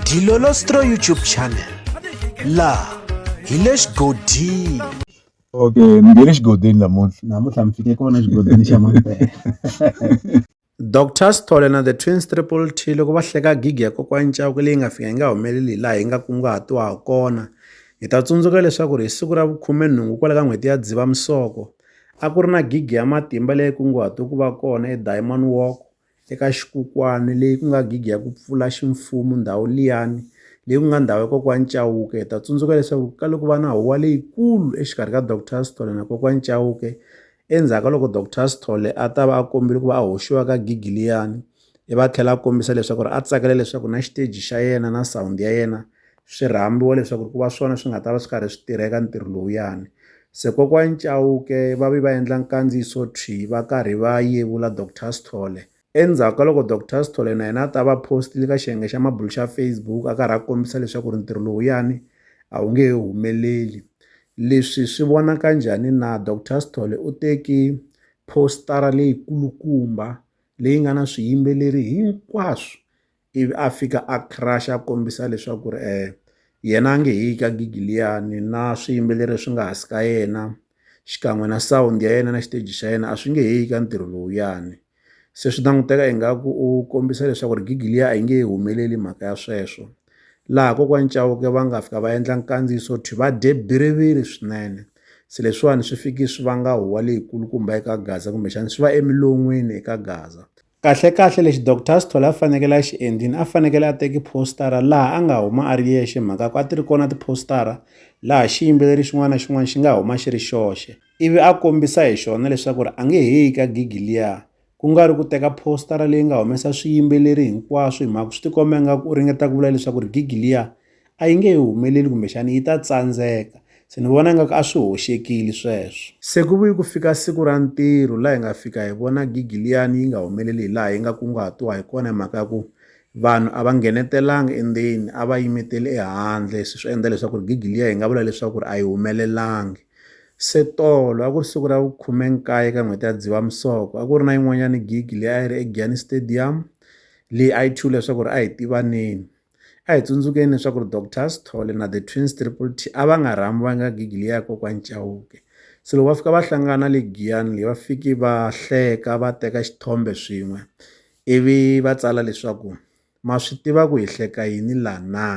Dilolostro YouTube channel laha hi le xigodini okay ni nge le xigodini namuntlha namuntlha mi fike kona xigodini xa mampela Dr Sithole na the Twins Triple T loko va hleka gigi ya kokwani Chauke leyi nga fika yi nga humeleli hi laha yi nga kunguhatiwa ha kona hi ta tsundzuka leswaku ri hi siku ra vukhumenhungu kwala ka n'hweti ya Dzivamisoko a ku ri na gigi ya matimba leyi kunguhatiwe ku va kona eDiamond Walk eka xikukwana leyi ku nga gigi ya ku pfula ximfumo ndhawu liyani leyi ku nga ndhawu ya kokwani Chauke hi ta tsundzuka leswaku ka loko va na huwa leyikulu exikarhi ka Dr Sithole na kokwani Chauke endzhaku ka loko Dr Sithole a ta va a kombile ku va a hoxiwa ka gigi liyani i va tlhela a kombisa leswaku ri a tsakela leswaku na xiteji xa yena na sound ya yena swi rhambiwa leswaku ku va swona swi nga ta va swi karhi swi tirha eka ntirho lowuyani se kokwani Chauke va vi va endla nkandziyiso thwi va karhi va yevula Dr Sithole endzhaku ka loko Dr Sithole na yena a ta va postile ka xiyenge xa mabulu xa Facebook a karhi a kombisa leswaku ri ntirho lowuyani a wu nge he humeleli leswi swi vonaka njhani na Dr Sithole u teki postara leyi kulukumba leyi nga na swiyimbeleri hinkwaswo ivi a fika a crush a kombisa leswaku ri um yena a nge he yi ka gigi liyani na swiyimbeleri leswi nga hansi ka yena xikan'we na sound ya yena na xiteji xa yena a swi nge he yi ka ntirho lowuyani se swi languteka ingaku u kombisa leswaku ri gigi liya a yi nge humeleli mhaka ya sweswo laha kokwani Chauke va nga fika va endla nkandziyiso thwi va dye biriviri swinene se leswiwani swi fiki swi vanga huwa leyikulukumba eka Gaza kumbexana swi va emilon'wini eka Gaza Kahlekahle lexi Doctor Sithole a fanekele a xi endlile a fanekele a teki poster-a laha a nga huma a ri yexe hi mhaka ku a ti ri kona ti-poster-a laha xiyimbeleri xin'wana na xin'wana xi nga huma xi ri xoxe ivi a kombisa hi xona leswaku ri a nge he yi ka gigi liya ku nga ri ku teka poster-a leyi nga humesa swiyimbeleri hinkwaswo hi mhaka swi tikomba ingaku u ringeta ku vula leswaku ri gigi liya a yi nge he humeleli kumbexana yi ta tsandzeka. Se ni vona ingaku a swi hoxekile sweswo. Se ku vuye ku fika siku ra ntirho laha hi nga fika hi vona gigi liyani yi nga humeleli hi laha yi nga kunguhatiwa hi kona hi mhaka ya ku vanhu a va nghenetelanga endzeni a va yimetele ehandle se swi endla leswaku ri gigi liya hi nga vula leswaku ri a yi humelelangi se tolo a ku ri siku ra vukhumenkaye ka n'hweti ya dzivamisoko a ku ri na yin'wanyana gigi leyi a yi ri egiyani stadium leyi a yi thyiwile leswaku ri a hi tivaneni A hi tsundzukeni leswaku ri Doctor Sithole na The Twins Triple T a va nga rhambanga gigi liya ya kokwani Chauke. Se loko va fika va hlangana le giyani leyi va fiki va hleka va teka xithombe swin'we ivi va tsala leswaku ma swi tiva ku hi hleka yini la na.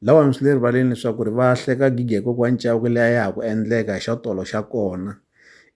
Lahawani swi le rivaleni leswaku ri va hleka gigi ya kokwani Chauke leyi a ya ha ku endleka hi xa tolo xa kona.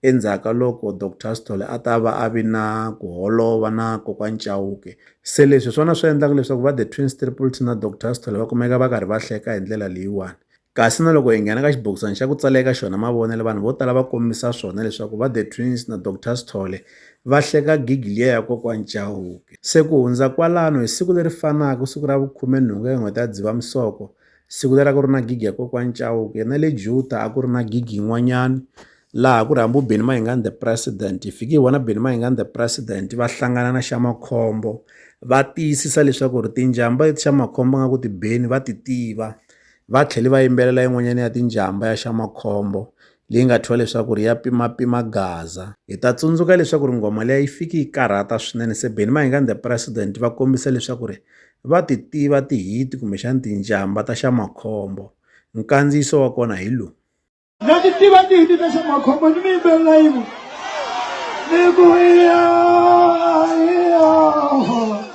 Endzhaku ka loko Doctor Sithole a ta va a vi na ku holova na Kokwani Chauke. Se leswi hi swona swi endlaka leswaku va The Twins Triple T na Doctor Sithole va kumeka va karhi va hleka hi ndlela leyiwani. Kasi na loko hi nghena ka xibokisana xa ku tsala eka xona mavonelo vanhu vo tala va kombisa swona leswaku va The Twins na Doctor Sithole va hleka gigi liya ya Kokwani Chauke. Se ku hundza kwalano hi siku leri fanaka siku ra vu khume nhungu eka n'hweti ya Dzivamisoko, Siku leri a ku ri na gigi ya kokwani Chauke na le Juta a ku ri na gigi yin'wanyani laha ku ri hambi Benny Mayengani the president hi fiki hi vona Benny Mayengani the president va hlangana na xa makhombo va tiyisisa leswaku ri tinjhamba leti xa makhombo nga ku ti beni va ti tiva va tlhela va yimbelela yin'wanyana ya tinjhamba ya xa makhombo. leyi nga thyiwa leswaku ri ya pimapima gaza hi ta tsundzuka leswaku ri nghoma leyi yi fiki yi karhata swinene se beni mahingani the president va kombisa leswaku ri va ti tiva tihiti kumbexani tinjamba ta xa makhombo nkandziyiso wa kona hi lowu na ti tiva tihiti ta xa makhombo ni mi yimbelela yin'we ni ku iya iya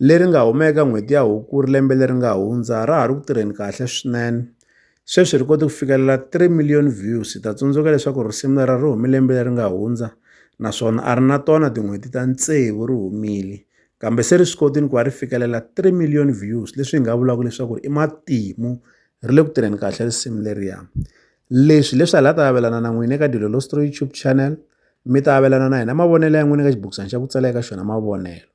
leri nga huma eka n'hweti ya Hukuri lembe leri nga hundza ra ha ri ku tirheni kahle swinene. Sweswi ri kote ku fikelela 3 million views. Ta tsundzuka leswaku risimu lera ri hume lembe leri nga hundza naswona a ri na tona tin'hweti ta tsevu ri humile. Kambe se ri swi kotile ku va ri fikelela 3 million views leswi hi nga vulaka leswaku i matimu ri le ku tirheni kahle risimu leriya. Leswi leswi hala ta avelana na n'wina eka Dilolo Story YouTube channel mi ta avelana na hina mavonelo ya n'wina eka xibukisana xa ku tsala eka xona mavonelo.